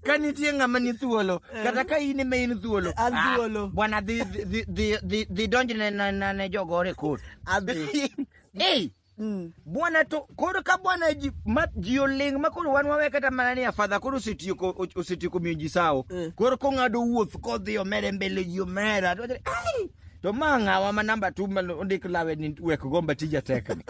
ka nitie ng'ama ni thuolo kata ka in ema in thuolo An ah, thuolo. bwana dhi dhi- dhi- dhi- dhi donj ne- ne- ne ne jogore kot Adhi. ei Mm. bwana to koro ka bwana ji ma ji oling ma koro wan wawe kata mana ni afadha koro osetieko o- osetieko miyo ji sawo Mm. koro kong'ado wuoth kodhi omere mbele ji omera to wachore, "Ai, to ma ng'awa ma namba tu ma ondik lawe ni wek gomba tija tekni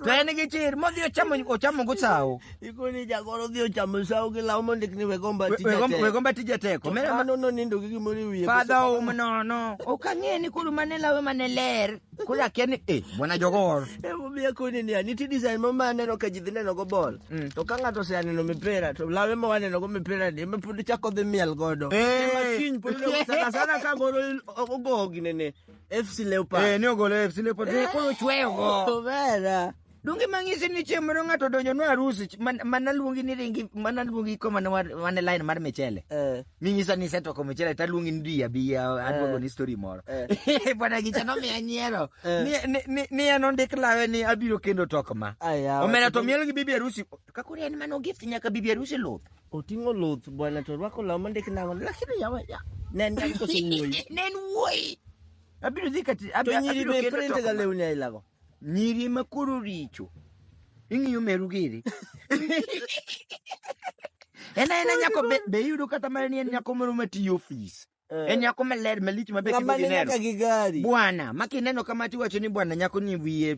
to en gi chir modhi ochamo ochamo go sawo ikoni jagoro dhi ochamo sawo gi law mondik ni wegomba tija teko wegomba tija teko mera mano no nindo gi gimoro wiye fadha um no no ok ang'e ni kuru mane lawe mane ler kuru akia ni eh bwana jogor e mo biya koni ni ani ti design mo mane no ka jidhi neno go bol mm. to ka ng'ato se aneno mipira to lawe mo waneno go mipira ni me pudi chako dhi miel godo eh. e ma kiny pudi sana sana ka goro ogogi nene FC Leopards. Eh, ne ogolo FC Leopards. Eh, koro chweyo go. Vera. Donge mang'isi ni chieng' moro ng'ato donjo no arusi ch- man- mana luongi ni ringi mana luongi ko mana war- wane line mar michele. Eh. Ming'isa ni setoko michele ta luongi ni diya biya adwogo ni story moro. Bwana gicha no miya nyiero. Eh. Ni- ni- ni- Ni en ondik lawe ni abiro kendo tok ma. Aya. Omera to miel gi bibi arusi. Kakuri en mano gift nyaka bibi arusi luth. Oting'o luth bwana to orwako law mondik nang'o lakini yawa ya. Ne en nyako kose wuoyi. Ne en wuoyi. Abiro dhi kati To abiro nyiri abiro be kendo print ga toko. lewni aila go. Nyiri ma koro richo. Ing'iyo meru giri. En aena nyako be, be iyudo kata mana ni en nyako moro matiyo ofis. Eh. e nyako maler malich maber kendo gineno gi gari bwana ma kineno kama tiwacho ni bwana nyako ni wiye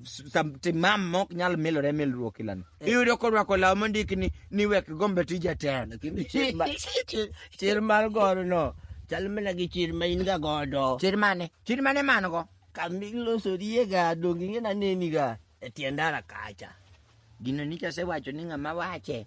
timam mok nyal milore milruok ilano eh. iyudo korwako law mondik ni ni wek gombe tija ten chir mar goro no chal mana gi chir ma in ga godo chir mane chir mane man go kamilosorie ga donge ing'e naneni ga e tiendara kacha gino nicha sewacho ni ng'ama wache